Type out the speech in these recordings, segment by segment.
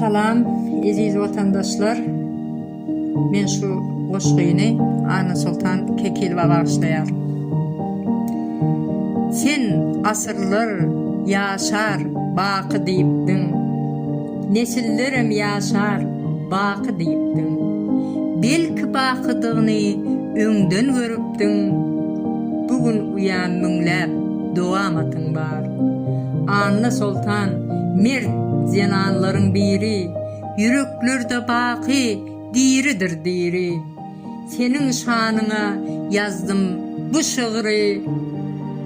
Salam eziz watandaşlar men şu goşgyny Anna Soltan Kekilowa bagyşlaýaryn. Sen asyrlar ýaşar baky diýipdiň, nesillerem ýaşar baky diýipdiň, belki bakydygyny öňden görüpdiň, bu gün uýam müňläp dowamatyň bar. Anna Soltan, mert zenanlaryň biri, Ýüreklerde baky diridir diri. Seniň şanyňa ýazdym bu şygry,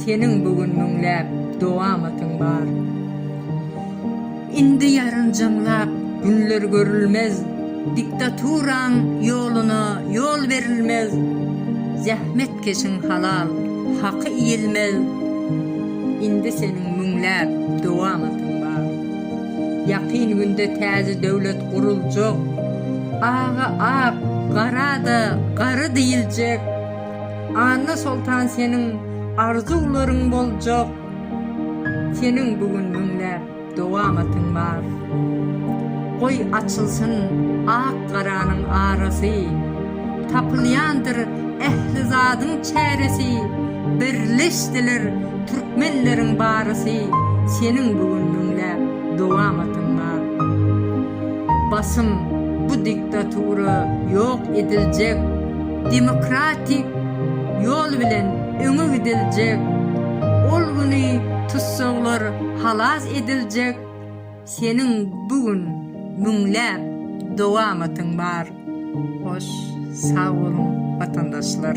Seniň bu gün müňläp doga-matyň bar. Indi ýarynjamlap günler görülmez, Diktaturaň ýoluna ýol berilmez, Zähmetkeşiň halal haky iýilmez, Indi seniň müňläp dowamatyň bar. Ýakyn günde täze döwlet guruljak, Aga ak, gara-da garry diýiljek, Anna Soltan seniň arzuwlaryň boljak, Seniň bu gün müňläp Dowamatyň bar. Goý açylsyn ak-garanyň arasy, Tapylýandyr ähli zadyň çäresi, Birleşdiler türkmenleriň barysy, Seniň bu gün müňläp dowamatyň bar. Basym bu diktatura ýok ediljek, Demokratik ýol bilen öňe gidiljek, Ol güni tussaglar Halas ediljek seniň bu gün müňläp dowamatyň bar. Hoş sag boluň watandaşlar.